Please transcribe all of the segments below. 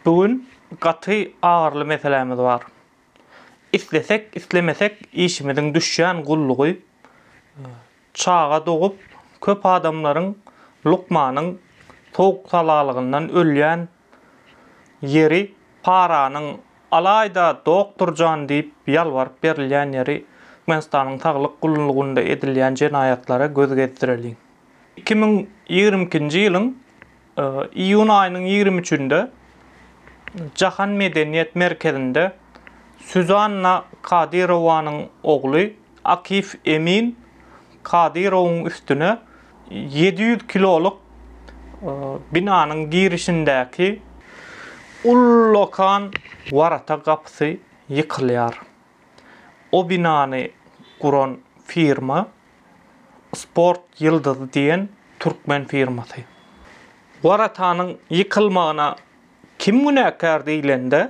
Bu gün gaty agyryly meselämiz bar. Islesek, islemesek işimiziň düşýän gullugy, çaga dogup, köp adamlaryň, lukmanyň sowuk-salalygyndan ölýän ýeri, paranyň, alaýda doktor jan diýip ýalbaryp berilýän ýeri Türkmenistanyň saglyk gullugynda edilýän jenaýatlara göz gezdireliň. Iki müň ýigrimi ikinji ýylyň Iýun aýynyň ýigrimi üçünde Jahan medeniýet merkezinde Suzanna Kadyrowanyň ogly Akif Emin Kadyrowyň üstüne ýedi ýüz kilolyk binanyň girişindäki ullakan warata gapysy ýykylýar. O binany guran firma Sport ýyldyzy diýen türkmen firmasy. Waratanyň ýykylmagyna kim günäkär diýlende,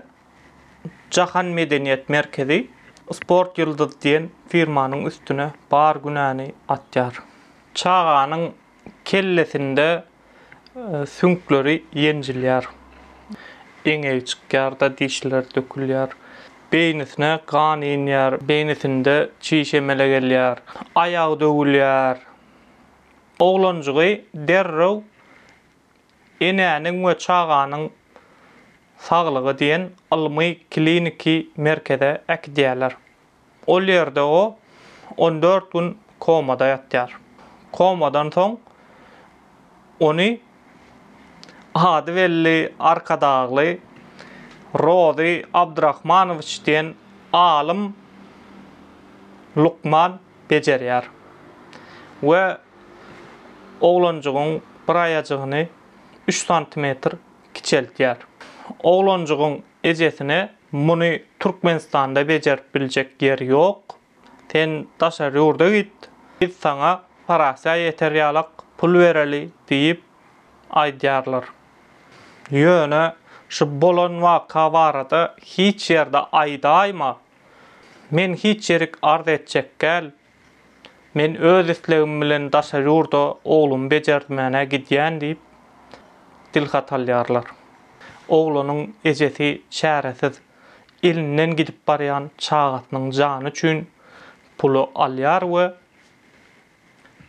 Jahan medeniýet merkezi Sport ýyldyzy diýen firmanyň üstüne bar günäni atýar. Çaganyň kellesinde süňkleri ýenjilýär, eňegi çykýar-da, dişleri dökülýär. Beýnisine gan inýär, beýnisinde çiş emele gelýär, aýagy döwülýär. Oglanjygy derrew Enäniň we çaganyň saglygy diýen ylmy-kliniki merkeze äkidýärler. Ol ýerde o on dört gün komada ýatýar. Komadan soň ony ady belli Arkadagly Rozy Abdyrahmanowiç diýen alym lukman bejerýär we oglanjygyň bir aýajygyny üç santimetr kiçeltýär. Oglanjygyň ejesine Muny Türkmenistanda bejerip biljek ýer ýok. Sen daşary ýurda git, biz saňa parasiýa ýeter ýalak pul bereli diýip aýdýarlar. Ýöne şu bolan waka barada hiç ýerde aýdaýma. Men hiç ýerik arz etjekgäl, Men öz islegim bilen daşary ýurda oglumy bejertmäne gidýän diýip, dilhat alýarlar. Oglanyň ejesi çäresiz, elinden gidip barýan çagasynyň jany üçin puly alýar we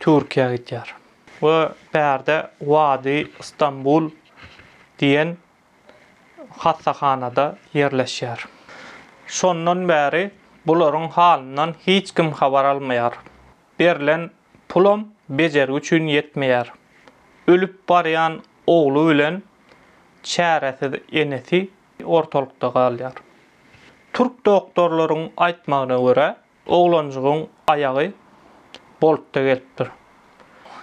Türkiýä gidýär. We bärde Wadi Stambul diýen hassahanada ýerleşýär. Şondan bäri bularyň halyndan hiç kim habar almaýar. Berlen pulam bejergi üçin ýetmeýär. Ölüp barýan ogly bilen çäresiz enesi ortalykda galýar. Türk doktorlaryň aýtmagyna görä, Oglanjygyň aýagy boltda gelipdir.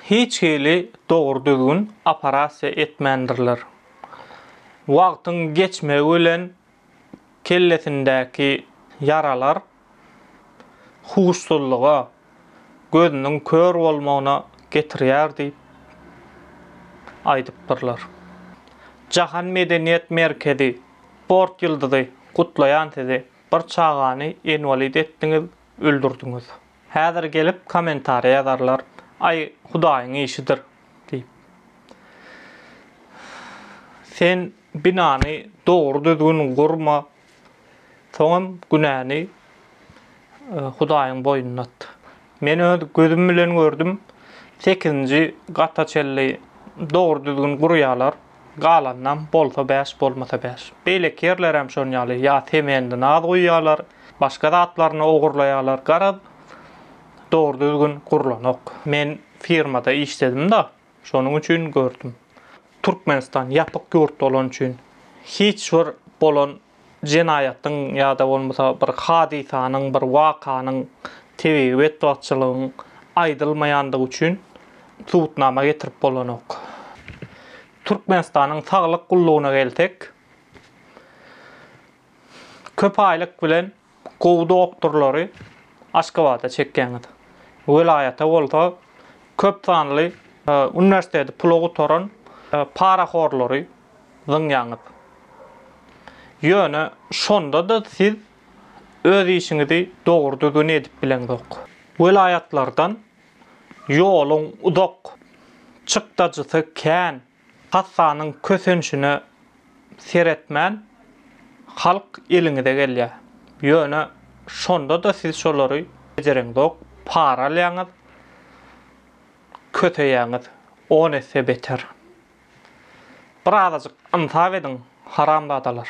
Hiç hili dogry-düzgün operasiýa etmändirler. Wagtyň geçmegi bilen kellesindäki ýaralar huşsuzlyga, gözüniň kör bolmagyna getirýär diýip aýdypdyrlar. Jahan medeniýet merkezi, sport ýyldyzy gutlaýan sizi! Bir çagany enwalid etdiňiz, öldürdiňiz. Häzir gelip kommentariýa ýazarlar, Aý, Hudaýyň işidir diýip. Sen binany dogry-düzgün gurma, soňam günäni Hudaýyň boýnuna at. Men öz gözüm bilen gördüm, sekizinji gata çenli dogry-düzgün gurýarlar, galanynam bolsa bäş, bolmasa bäş. Beýleki ýerlerem şon ýaly, ýa semendi naz guýýarlar, başga zatlaryny ogurlaýarlar, garaz, dogry-düzgün gurlanok. Men firmada işledim-de, Şonuň üçin gördüm. Türkmenistan ýapyk ýurt bolany üçin hiç bir bolan jenaýatyň ýa-da bolmasa bir hadysanyň, bir wakanyň, tebigy betbagtçylygyň aýdylmaýandygy üçin subutnama getirip bolanok. Türkmenistanyň saglyk gullugyna gelsek, köp aýlyk bilen Gowy doktorlary Aşgabada çekýäňiz. Welaýata bolsa köp sanly uniwersiteti pula gutaran parahorlary zyňýaňyz. Ýöne şonda-da siz öz işiňizi dogry düzgün edip bileňzok. Welaýatlardan ýoluň uzak, çykdajysy kän Kassanyň kösençine seretmän, halk eliňize gelýär. Ýöne şonda-da siz şolary bejereňzok, para alýaňyz, köseýäňiz, on esse beter. Birazajyk ynsap ediň, haramzadalar!